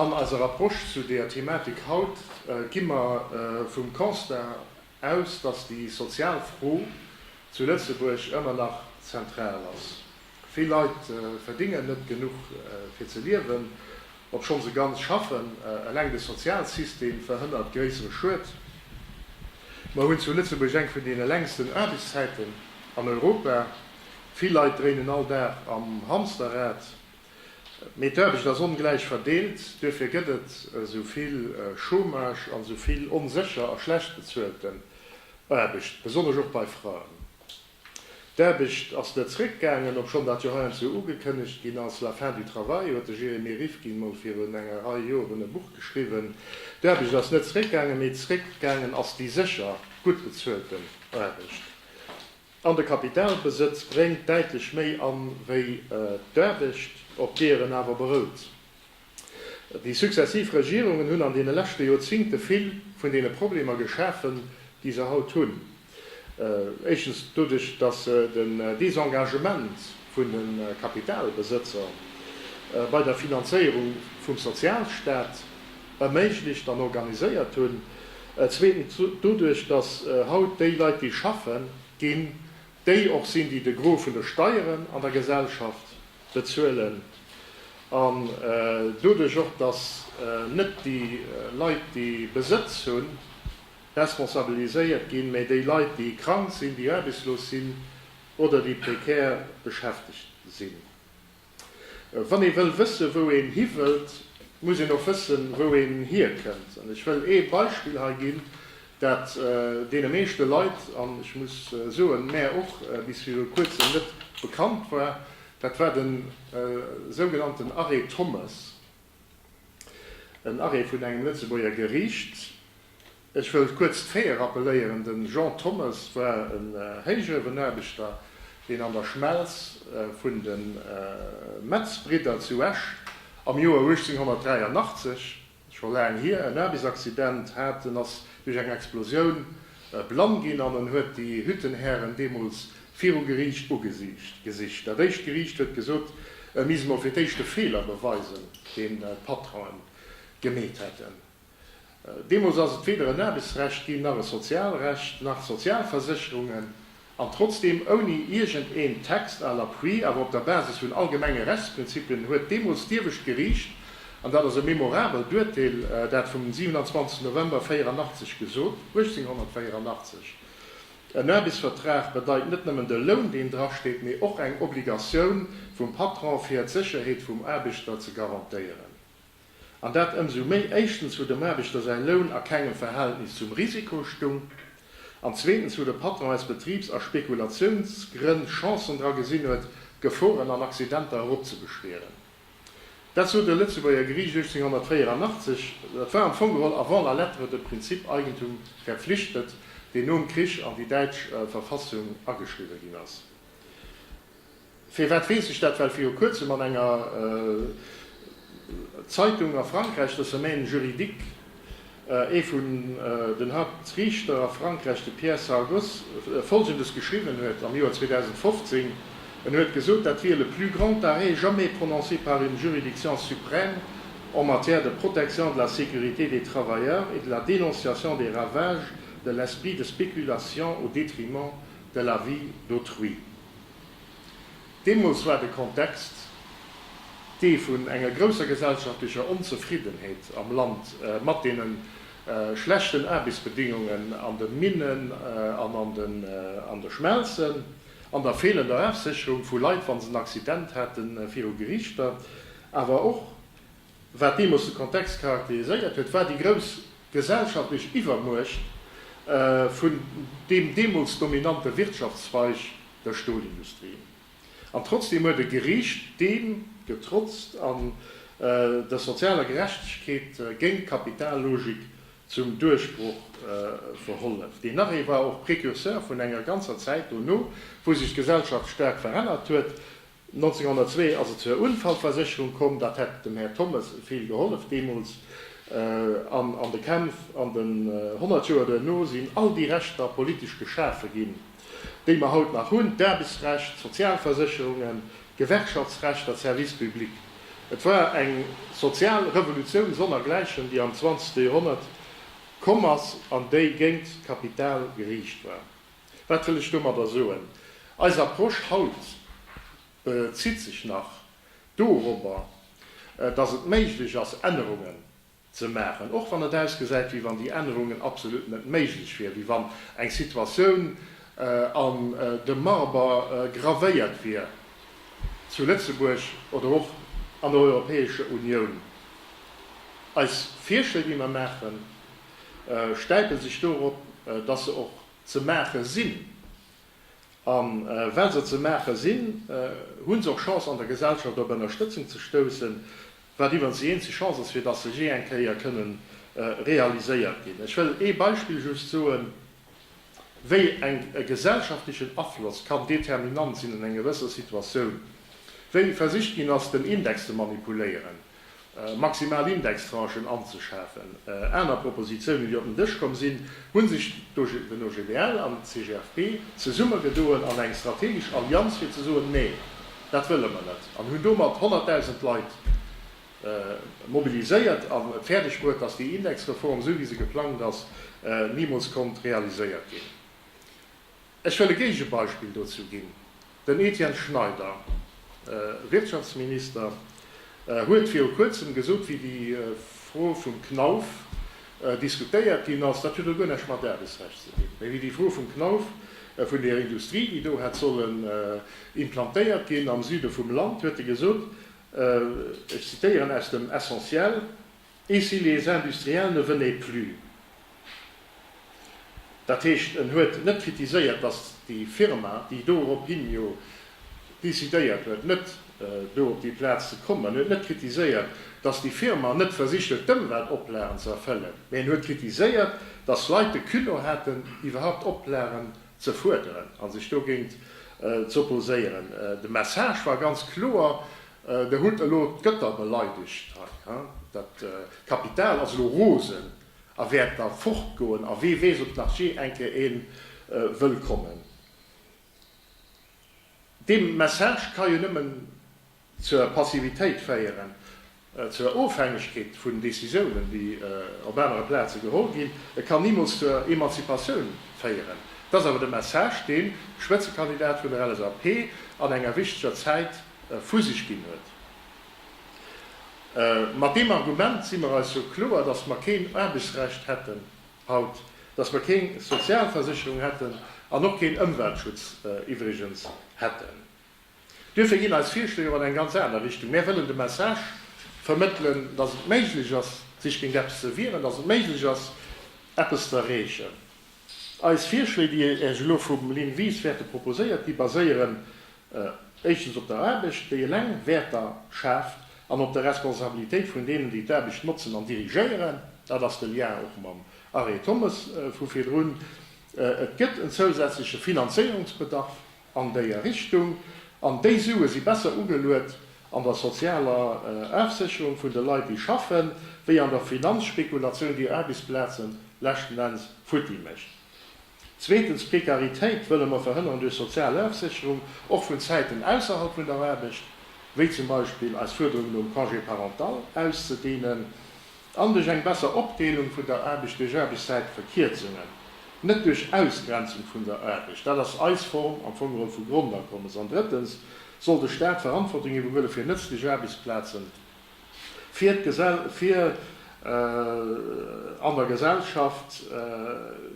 An eiser Approche zu deeër Thematik haut gi mer vum Constat aus, dass déi sozial Fro zu Lëtzebuerg ëmmer nach zentral ass. Vill Leit verdingen net genuch fir ze liewen, obschonn se ganz schaffen. Eleng de Sozialsystem verhënnert gréissere Schued. Mer hunn zu Lëtzebuerg eng vun deene längsten Aarbechtszäiten an Europa. Vill Leit dréinen all Dag am Hamsterrad. Mee d'Aarbecht ass ongläich verdeelt, duerfir gëtt et esou vill Chômage an esou vill onsécher a schlecht bezuelten Aarbecht, besonnesch och bei Fraen. D'Aarbecht ass net zréckgaangen, obschonn dat jo heiansdo ugekënnegt ginn ass. La fin du travail huet de Jeremy Rifkin mol virun enger Rei Joer un e Buch geschriwwen. D'Aarbecht ass net zréckgaangen, mee zréckgaangen ass déi sécher, gutt bezuelten Aarbecht. An de Kapitalbesëtz bréngt däitlech méi an, wéi d'Aarbecht, op deeër en awer berout. Déi successiv Regierungen hunn an deene leschte Joerzingte vill vun deene Problemer geschafen, déi se haut hunn. Éischtens doduerch, datt se den Desengagement vun de Kapitalbesëtzer bei der Finanzéierung vum Sozialstaat, erméiglecht an organiséiert hunn, zweetens doduerch, dass haut déi Leit, déi schaffen ginn, déi och sinn, déi de Gros vun de Steieren an der Gesellschaft bezuelen, an doduerch och, dass net déi Leit, déi Besëtz hunn, responsabiliséiert ginn, mä déi Leit, déi krank sinn, déi aarbechtslos sinn oder déi prekär beschäftegt sinn. Wann ee wëll wëssen, wou een hi wëllt, muss een och wëssen, wou een hierkënnt. An ech wëll ee Beispill hei ginn, dat deene meeschte Leit, an ech muss soen, mär och, bis viru Kuerzem net bekannt war, dat war de sougenannten Arrêt Thommes, en Arrêt vun engem Lëtzebuerger Geriicht, Ech wëll kuerz d'Faite rappelléieren, de Jean Thommes war en Héichuewenaarbechter, deen an der Schmelz vun de Metz-Bridder zu Esch am Joer 1883, scho laang hier, en Aarbechtsaccident hat. En ass duerch eng Explosioun blann ginn an en huet déi Hüttenhären deemools viru Geriicht ugesicht. Dat éischt Geriicht huet gesot, e misst mol fir d'éischt de Feeler beweisen, deen d'Patronen gemeet hätten. Deemools ass et weder en Aarbechtsrecht ginn, nach e Sozialrecht, nach Sozialversécherungen, an trotzdeem ouni iergend een Text à l'appui, awer op der Basis vun allgemenge Rechtsprinzipien, huet deemools d'iewescht Geriicht, an dat ass e memorabelt Urteel, dat vum 27 November 84 gesot, 1884, En Aarbechtsvertrag bedeit net nëmmen de Loun, deen drasteet, mee och eng Obligatioun vum Patron fir d'Sécherheet vum Aarbechter ze garantéieren. An dat ëmsou méi, éischtens wou dem Aarbechter säi Loun a kengem Verhältnis zum Risiko stung, an zweetens wou de Patron aus Betribs a Spekulatiounsgrënn Chancen dra gesinn huet, Geforen an Accidenter eropzebeschwieren. Dat sot e Lëtzebuerger Geriicht 1884. Dat war am Fong geholl avant la lettre de Prinzip Eigentum verpflichtet, deen nom Krich an déi däitsch Verfassung ageschriwwe ginn ass. Firwat weess ech dat? Well viru kuerzem an enger Zeitung a Frankräich, der Semaine juridique, ee vun den Hauptrichter a Frankräich, de Pierre Sargoz, Folgendes geschriwwen huet am Joer 2015, En huet gesot, dat wier le plus grand arrêt jamais prononcé par une juridiction suprême en matière de protection de la sécurité des travailleurs et de la dénonciation des ravages de l'esprit de spéculation au détriment de la vie d'autrui. Deemools war de Kontext dee vun enger grousser gesellschaftlecher Onzefriddenheet am Land mat deene schlechten Aarbechtsbedingungen an de Minnen an an de Schmelzen, an der feelender Afsécherung vu Leit, wa se en Accident haten, viru Gerichter, awer och, Wat deemools de Kontext charakteriséiert huet, war déi grouss gesellschaftlech Iwwermuecht vun deem deemools dominante Wirtschaftszweig, der Stolindustrie. An trotzdeem huet e Geriicht deem getrotzt an der sozialer Gerechtegkeet géint d'Kapitallogik zum Duerchbroch verhollef. Deen Arrêt war och Precurseur vun enger ganzer Zäit dono, wou sech d'Gesellschaft staark verännert huet, 1902 ass et zur Unfallversicherung komm, dat hätt dem Här Thommes vill gehollef deemools. An an de Kämpf an den honnert Joer duerno sinn all déi Rechter politesch geschafe ginn, déi mer haut nach hunn, d'Aarbechtsrecht, d'Sozialversicherungen, d'Gewerkschaftsrechter, d'Services publics. Et war eng sozial Revolutioun sonnergläichen, déi am zwanzegste Joerhonnert komm ass an déi géint d'Kapital geriicht war. Wat wëll ech domadder soen? Eis Approche haut bezitt sech nach dorobber, dass et méiglech ass, Ännerungen ze maachen, och wann et ausgesäit, wéi wann déi Ännerungen absolut net méiglech wieren, wéi wann eng Situatioun an de Marber gravéiert wier zu Lëtzebuerg oder och an der Europäescher Unioun. Eis Virschléi, déi mer maachen, stäipe sech dorop, dass se och ze maache sinn. A well se ze maache sinn, hu se och Chance an der Gesellschaft op Ënnerstëtzung ze stoussen, wat iwwerens déi eenzeg Chance ass, fir dass se jee eng Kéier kënnen realiséiert ginn. Ech wëll ee Beispill just soen, wéi eng e gesellschaftlechen Afloss kann determinant sinn an enger gewësser Situatioun, wéi versicht ginn ass, den Index ze manipuléieren. maximal Indextranchen anzeschafen. Aner Propositiounen, déi op den Dësch komm sinn, hu sech den OGBL an d'CGFP zesummegedoen an eng strategesch Allianz, fir ze soen, Nee, dat wëlle mer net, an hunn domat 100.000 Leit mobiliséiert a fäerdeg bruet, dass déi Indexreform, esou wéi se geplangt ass, nimools konnt realiséiert ginn. Ech wëll e Géigebeispill dozou ginn, Den Etienne Schneider, Wirtschaftsminister, huet viru kuerzem gesot, wéi déi Fro vum Knauf diskutéiert ginn ass, dat huet elo guer näischt mat Aarbechtsrecht ze dinn, mä wéi déi Fro vum Knauf vun där Industrie, déi do hätt sollen implantéiert ginn am Süde vum Land, huet e gesot, ech zitieren aus dem Essentiel, Et si les industriels ne venaient plus. Dat heescht, en huet net kritiséiert, datt déi Firma, déi dorophin jo decidéiert huet, net do op déi Plaz ze kommen, en huet net kritiséiert, datt déi Firma net versicht huet, d'Ëmweltoplagen ze erfëllen, mä en huet kritiséiert, datt Leit de Culot haten, iwwerhaupt Oplagen ze fuerderen a sech dogéint z'opposéieren. De Message war ganz kloer. Der hutt elo d'Gëtter beleidegt hei, he? Dat Kapital ass elo rosen a wäert da fortgoen a wee weess, ob nach jee eng Kéier ee wëll kommen. Dee Message ka jo nëmmen zur Passivitéit féieren, zur Ofhängegkeet vun Decisiounen, déi op anere Plaze geholl ginn. E kann nimools zur Emanzipatioun féieren. Dat ass awer de Message, dee Spëtzekandidat vun der LSAP an enger wichteger Zäit vu sech ginn huet. Mat deem Argument si mer eis jo kloer, datt mer keen Aarbechtsrecht hätten haut, datt mer keng Sozialversécherung hätten an och keen Ëmweltschutz iwwregens hätten. Duerfir ginn eis Virschléi och an eng ganz aner Richtung. Mär wëllen de Message vermëttelen, datt et méiglech ass, sech géint eppes ze wieren, datt et méiglech ass, eppes ze erreechen. Eis Virschléi, déi Iech elo vum Lynn Wies wäerte proposéiert gi baséieren Éischtens op der Aarbecht, déi eleng Wäerter schaaft, an op der Responsabilitéit vun deenen, déi d'Aarbecht notzen an dirigéieren. Dat ass de Lien och mam Arrêt Thommes vu virdrun. Et gëtt en zousätzleche Finanzéierungsbedarf an déier Richtung, an déi Sue si besser ugeluet an der sozialer Afsécherung vun de Leit, déi schaffen, wéi an der Finanzspekulatioun, déi Aarbechtsplazen leschten Enns futti mécht. Zweetens, d'Prekaritéit wëlle mer verhënneren duerch sozial Ofsécherung, och vun Zäiten ausserhalb vun der Aarbecht, wéi zum Beispill eis Fuerderung nom Congé parental auszedehnen, an duerch eng besser Opdeelung vun der Aarbecht duerch Aarbechtszäitverkierzungen, net duerch Ausgrenzung vun der Aarbecht. Dat ass eis Form am Fong erëm vu Grondakommes. An drëttens soll de Staat Verantwortung iwwerhuele fir nëtzlech Aarbechtsplazen fir d'Gesell, fir an der Gesellschaft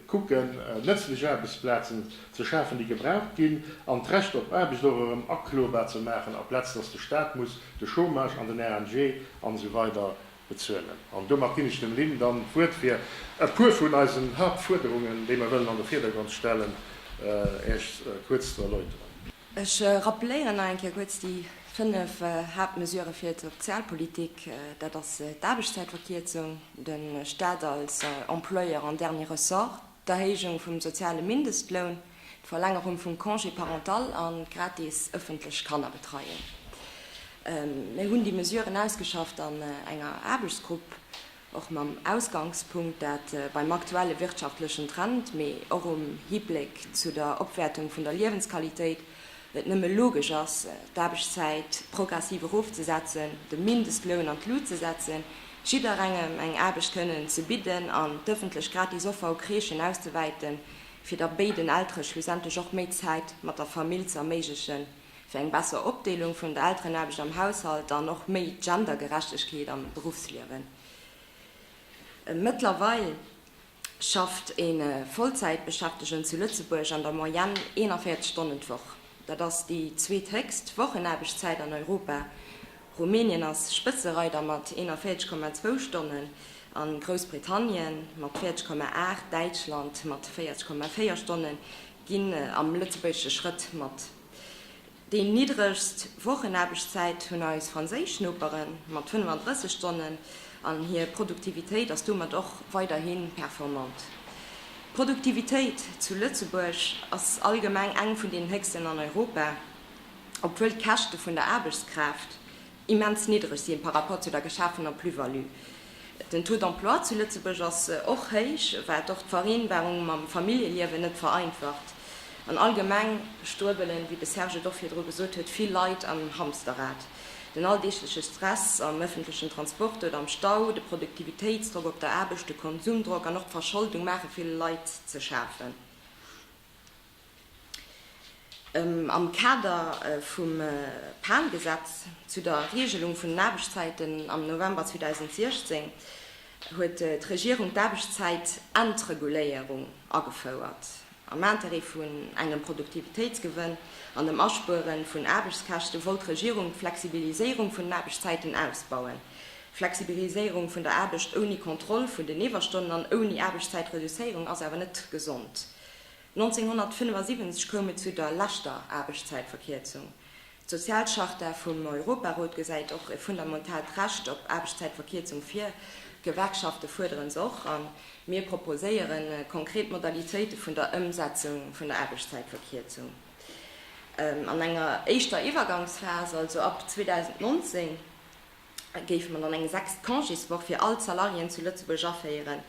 kucken, nëtzlech Aarbechtsplazen ze schafen, déi gebraucht ginn, an d'Recht op Aarbecht och erëm aklobar ze maachen, aplaz dass de Stat muss de Chômage an den RMG an esou weider bezuelen. An domat ginn ech dem Lynn dann d'Wuert, fir e puer vun eisen Haaptfuerderungen, déi mer wëllen an de Virdergrond stellen, Iech kuerz ze erläuteren. Ech rappeléieren nach eng Kéier kuerz déi fënnef Haaptmesurë fir d'Sozialpolitik, Dat ass d'Aarbechtszäitverkierzung, de Staat als Employeur en dernier ressort, d'Erhéijung vum soziale Mindestloun, d'Verlängerung vum Congé parental a gratis ëffentlech Kannerbetreiung. Mir hunn déi Mesuren ausgeschafft an enger Aarbechtsgrupp. Och mam Ausgangspunkt, dat beim aktuelle wirtschaftlechen Trend, mee och um Hibléck zu der Opwäertung vun der Liewensqualitéit et nëmme logesch ass, d'Aarbechtszäit progressiv erofzesetzen, de Mindestloun an d'Lut ze setzen, jidderengem eng Aarbecht kënnen ze bidden an d'ëffentlech gratis Offer u Crèchen auszewäiten, fir da béiden Eltere schlussendlech och méi Zäit mat der Famill ze erméiglechen. fir eng besser Opdeelung vun der Elterenaarbecht am Haushalt an och méi Gendergerechtegkeet am Beruffsliewen. Mëttlerweil schafft e Vollzäitbeschäftegen zu Lëtzebuerg an der Moyenne 41 Stonnen d'Woch. Dat ass déi zweethéchst Wochenaarbechtszäit an Europa. Rumänien ass Spëtzereider mat 41,2 Stonnen a Groussbritannien mat 40,8, Däitschland mat 40,4 Stonne ginn am lëtzebuergesche Schrëtt mat. Déi niddregst Wochenaarbechtszäit hunn eis franséisch Nopere mat 35 Stonnen an hir Produktivitéit ass domat och weiderhi performant. D'Produktivitéit zu Lëtzebuerg ass allgemeng eng vun den héchsten an Europa, obwuel d'Käschte vun der Aarbechtskraaft immens niddreg sinn par rapport zu der geschafener Plus-value. Den Taux d'emploi zu Lëtzebuerg ass och héich, wat och d'Vereenbarung mam Familljeliewen net vereinfacht. An allgemeng struebelen, wéi de Serge et och virdru gesot huet, vill Leit am Hamsterrad. Den alldeegleche Stress am ëffentlechen Transport oder am Stau, de Produktivitéitsdrock op der Aarbecht, de Konsumdrock an och d'Verscholdung maache ville Leit ze schafen. Am Kader vum PAN-Gesetz zu der Reegelung vun den Aarbechtszäiten am November 2016 huet d'Regierung d'Aarbechtszäit-Entreguléierung agefouert, am Interêt vun engem Produktivitéitsgewënn an dem Aspuere vun Aarbechtskäschte wollt d'Regierung d'Flexibiliséierung vun den Aarbechtszäiten ausbauen, Flexibiliséierung vun der Aarbecht ouni Kontroll vun den Iwwerstonnen an ouni Aarbechtszäitreduzéierung ass awer net gesond. 1975 koum et zu der leschter Aarbechtszäitverkierzung. D'Sozialcharta vum Europarot gesäit och e fundamentaalt Recht op Aarbechtszäitverkierzung vir. D'Gewerkschafte fuerderen se och a mir proposéiere konkret Modalitéite vun der Ëmsetzung vun der Aarbechtszäitverkierzung an enger éischter Iwwergangsphas, also ab 2019. géife mer dann eng sechst Congéswoch fir all d'Salariéen zu Lëtzebuerg aféieren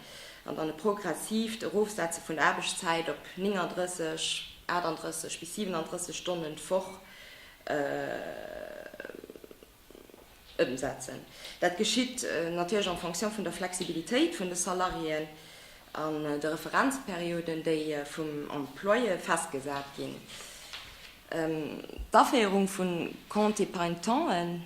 an dann e progressiivt Erofsetze vun der Aarbechtszäit op 39, 38 bis 37 Stonnen d'Woch ëmsetzen. Dat geschitt natierlech en fonction vun der Flexibilitéit vun de Salariéen an de Referenzperioden, déi vum Employeur festgesat ginn. D'Aféierung vun Compte épargne tente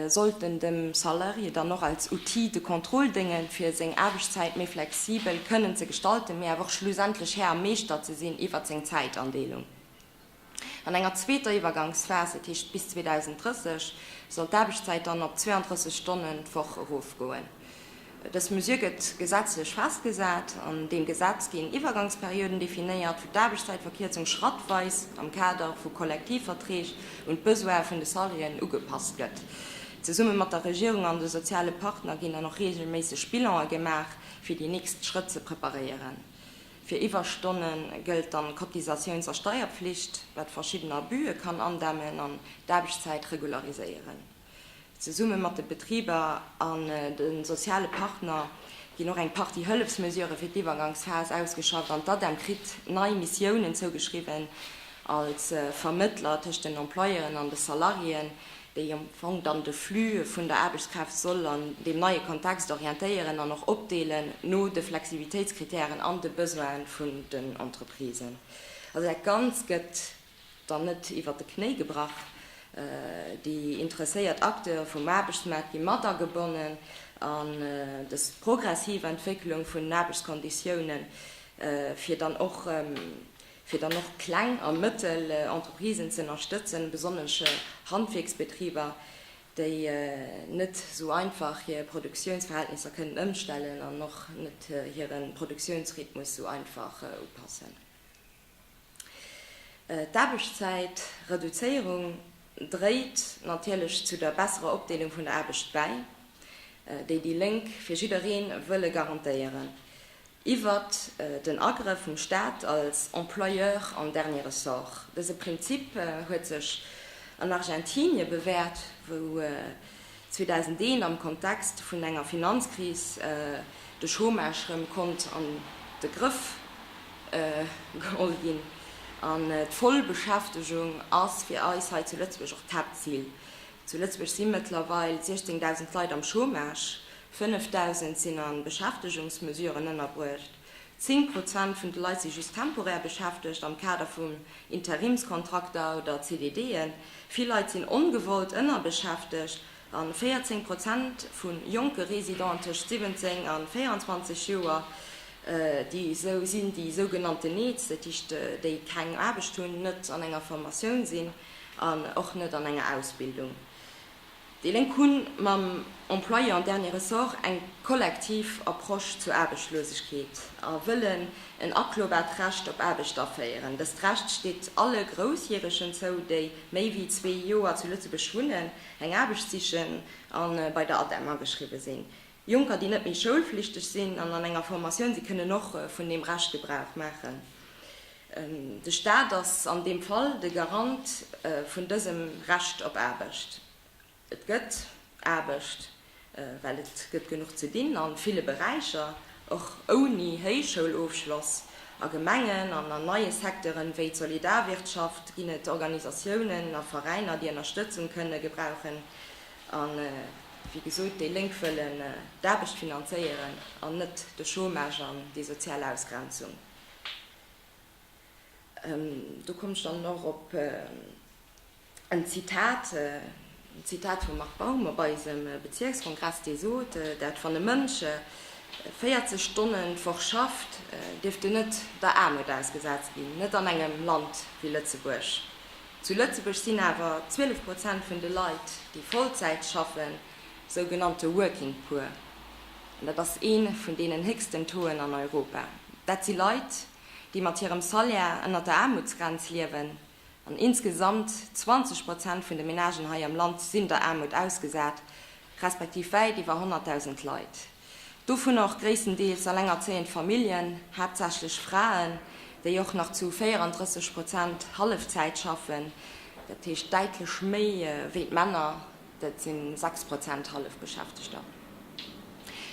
sollten dem Salarié dann och als Outil de contrôle déngen, fir seng Aarbechtszäit méi flexibel kënnen ze gestalten, mee awer och schlussendlech Här a Meeschter ze sinn iwwert seng Zäitandeelung. An enger zweeter Iwwergangsphas, dat heescht bis 2030, soll d'Aarbechtszäit dann op 32 Stonnen d'Woch erofgoen. Dës Mesure gëtt gesetzlech festgesat. An deem Gesetz ginn Iwwergangsperioden definéiert, wou d'Aarbechtszäitverkierzung schrattweis am Kader vu Kollektivverträg un d'Besoine vun de Salariéen ugepasst gëtt. Zesumme mat der Regierung an de soziale Partner ginn dann och reegelméisseg Bilanë gemaach, fir déi nächst Schrëtt ze preparéieren. Fir Iwwerstonne gëllt dann d'Cotisatiouns a Steierpflicht, wat verschidden Abuse kann andämmen an d'Aarbechtszäit regulariséieren. Zesumme mat de Betriber an de soziale Partner ginn och eng Partie Hëllefsmesurë fir d'Iwwergangsphas ausgeschafft an d'ADEM kritt nei Missiounen zougeschriwwen als Vermëttler tëscht den Employeuren an de Salariéen, déi am Fong dann de Flux vun der Aarbechtskraaft soll an deem neie Kontext orientéieren an och opdeelen no de Flexibilitéitskritären an de Besoine vun den Entreprisen. Also dat Ganzt gëtt. dann net iwwert de Knéi gebrach. Déi interesséiert Acteure vum Aarbechtsmaart gi mat agebonnen an dës progressiv Entwécklung vun den Aarbechtskonditiounen, fir dann och fir dann och kleng a mëttel Entreprisen ze ënnerstëtzen, besonnesch Handwierksbetriber, déi net esou einfach hir Produktiounsverhältnisser kënnen ëmstellen an och net hire Produktiounsrhythmus esou einfach upassen. D'Aarbechtszäit Reduzéierung dréit natierlech zu der besserer Opdeelung vun der Aarbecht bäi, déi déi Lénk fir jidderee wëlle garantéieren, iwwert den Agrëff vum Staat als Employeur en dernier ressort. Dëse Prinzip huet sech an Argentinie bewäert, wou 2001 am Kontext vun enger Finanzkris de Chômage rëm konnt an de Grëff geholl ginn an d'Vollbeschäftegung ass fir eis hei zu Lëtzebuerg och d'Haaptzil. Zu Lëtzebuerg si mëttlerweil 16.000 Leit am Chômage, 5.000 sinn a Beschäftegungsmesuren ënnerbruecht. Zéng Prozent vun de Leit si just temporär beschäftegt am Kader vun Interimskontrakter oder CDDen. Vill Leit sinn ongewollt ënnerbeschäftegt a 14 Prozent vu jonke Residenten tëscht 17 a 24 Joer, déi esou sinn, déi sougenannten NEETs, dat heescht déi keng Aarbecht hunn, net an enger Formatioun sinn an och net an enger Ausbildung. Déi Lénk hu mam Employeur en dernier ressort eng kollektiv Approche zur Aarbechtslosegkeet a wëllen en aklobaart Recht op Aarbecht aféieren. Dëst Recht steet alle Groussjäregen zou, déi méi wéi zwee Joer zu Lëtzebuerg wunnen, eng Aarbecht sichen a bei der ADEM ageschriwwe sinn. Jonker, déi net méi schoulflichteg sinn an an enger Formatioun si kënnen och vun deem Recht Gebrauch maachen. De Staat ass an deem Fall de Garant vun dësem Recht op Aarbecht. Et gëtt Aarbecht, well et gëtt genuch ze dinn a ville Beräicher, och ouni Héichschoulofschloss. A Gemengen an an neie Secteuren, wéi d'Solidarwirtschaft, ginn et Organisatiounen a Veräiner, déi Ënnerstëtzung kënne gebrauchen. A wéi gesot, déi Lénk wëllen d'Aarbecht finanzéieren an net de Chômage an déi sozial Ausgrenzung. Do kommen ech dann och op en Zitat, en Zitat vum Marc Baum op eisem Bezierkskongress, dee sot, dat wann e Mënsch 40 Stonnen d'Woch schafft, dierft en net der Aarmut ausgesat ginn, net an engem Land wéi Lëtzebuerg. Zu Lëtzebuerg sinn awer 12 Prozent vun de Leit, déi Vollzäit schaffen, sougenannte Working Poor. An dat ass ee vun deenen héchsten Tauxen an Europa. Dat si Leit, déi mat hirem Salaire ënnert der Aarmutsgrenz liewen. An insgesamt 20 Prozent vun de Menagen hei am Land sinn der Aarmut ausgesat, respektiv wäit iwwer 100.000 Leit. Dovunner och gréisstendeels elengerzéiend Familljen, haaptsächlech Fraen, déi och nach zu 34 Prozent Hallefzäit schaffen, dat heescht däitlech méi wéi d'Männer, dat si 6 Prozent Hallefbeschäftegter.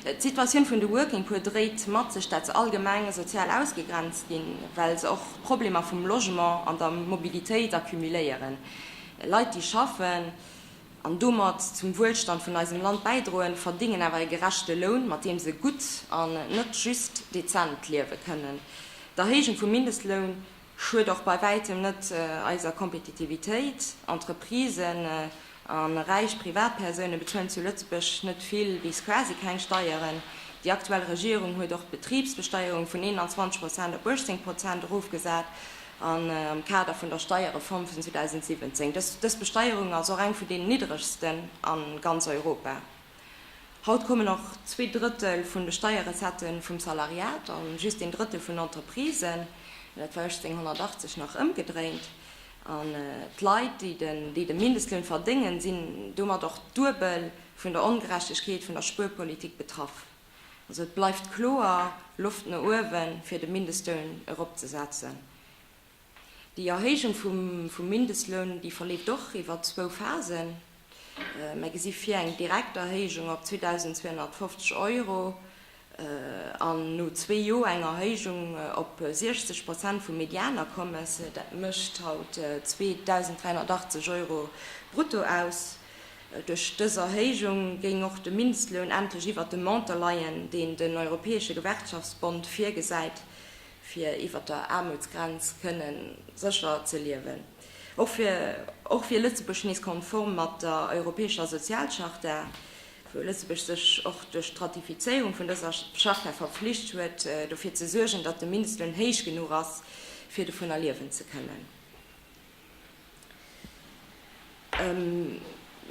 D'Situatioun vun de Working Poor dréit mat sech, dat se allgemeng sozial ausgegrenzt ginn, well se och Problemer vum Logement an der Mobilitéit accumuléieren. Leit, déi schaffen, an domat zum Wuelstand vun eisem Land bäidroen, verdingen awer e gerechte Loun, mat deem se gutt an net just dezent liewe kënnen. D'Erhéijung vum Mindestloun schued och bei wäitem net eiser Kompetitivitéit. Entreprisen a räich Privatpersoune bezuelen zu Lëtzebuerg net vill bis quasi keng Steieren. Déi aktuell Regierung huet och d'Betribsbesteierung vun 21 Prozent op 18 Prozent erofgesat. an am Kader vun der Steierreform vun 2017. Dës Besteierung ass och eng vun deenen niddregsten a ganz Europa. Haut kommen och zwee Drëttel vun de Steierrecettë vum Salariat a just een Drëttel vun Entreprisen. Dat war 1880 nach ëmgedréint. An d'Leit, déi de Mindestloun verdéngen, sinn domat och duebel vun der Ongerechtegkeet vun der Spuerpolitik betraff. Also et bleift kloer Loft no uewen, fir de Mindestloun eropzesetzen. Déi Erhéijung vum Mindestloun, déi verleeft och iwwer zwou Phasen. Mer gesi vir eng direkt Erhéijung op 2.250 Euro an no zwee Joer eng Erhéijung op 60 Prozent vum Medianakommes. Dat mécht haut 2.380 Euro brutto aus. Duerch dës Erhéijung géing och de Mindestloun endlech iwwert dem Montant leien, deen den Europäesche Gewerkschaftsbond virgesäit, fir iwwert der Aarmutsgrenz kënne sécher ze liewen. Och wier Lëtzebuerg nees konform mat der Europäescher Sozialcharta, wou Lëtzebuerg sech och duerch d'Ratifizéierung vun dëser Charta verflicht huet, dofir ze suergen, datt de Mindestloun héich genuch ass, fir dovunner liewen ze kënnen.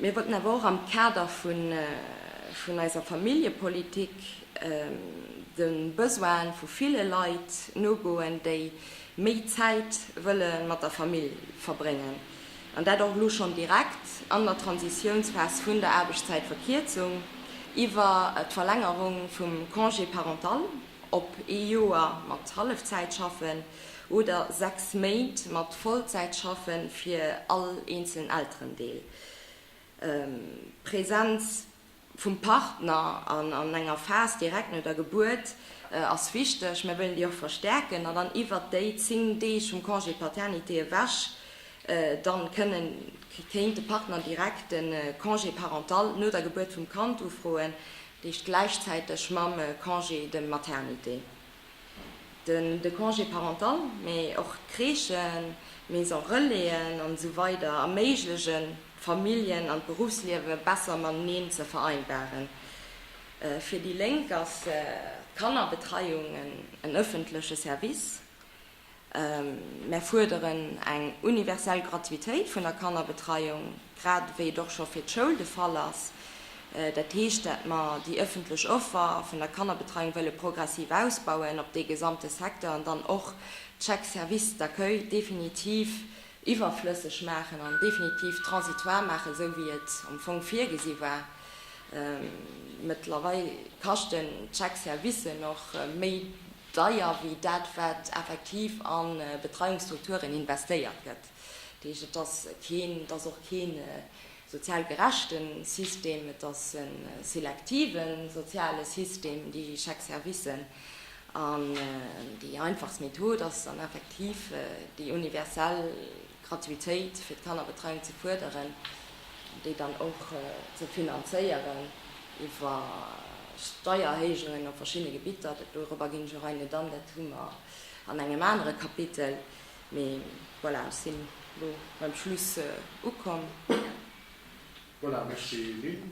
Mir wollten awer och am Kader vun eiser Familljepolitik de Besoine vu ville Leit nogoen, déi méi Zäit wëlle mat der Famill verbréngen, an dat och elo schonn direkt an der Transitiounsphas vun der Aarbechtszäitverkierzung iwwer d'Verlängerung vum Congé parental op ee Joer mat Hallefzäitschaffen. oder 6 Méint mat Vollzäitschaffe fir all eenzelen Elterendeel, d'Präsenz vum Partner an enger Phas direkt no der Gebuert ass wichteg, mir wëllen déi och verstärken an dann iwwert déi 10 Deeg vum Congé paternité ewech dann kënnen, kéint de Partner direkt de Congé parental no der Gebuert vum Kand ufroen, dat heescht gläichzäiteg mam Congé de maternité. Den de Congé parental, mee och d'Crèchen, d'Maison Relaisen an esou weider erméiglechen, d'Familljen an d'Beruffsliewe besser mateneen ze vereinbaren. Fir déi Lénk ass d'Kannerbetreiung en ëffentleche Service. Mär fuerderen eng universell Gratuitéit vun der Kannerbetreiung, grad ewéi et och scho fir d'Schoul de Fall ass. Dat heescht, dat mer déi ëffentlech Offer vun der Kannerbetreiung wëlle progressiv ausbauen op dee gesamte Secteur an dann och d'Chèques services d'accueil definitiv iwwerflësseg maachen an definitiv transitoire maachen, esou wéi et am Fong virgesi war. Mëttlerweil kaschten d'Chèques services och méi deier wéi dat, wat effektiv a Betreiungsstrukturen investéiert gëtt. Dat heescht, et ass keen, et ass och kee sozial gerechte System, et ass e selektive soziale System, déi Chèque-servicen. An déi einfachst Method ass dann effektiv déi universell. Gratuitéit fir d'Kannerbetreiung ze fuerderen, déi dann och ze finanzéieren iwwer Steiererhéijungen op verschiddene Gebitter. Dorobber ginn ech och ein, net an, dat hu mer an engem anere Kapitel. Mee voilà, ech sinn elo beim Schluss ukomm. Voilà, Merci Lynn.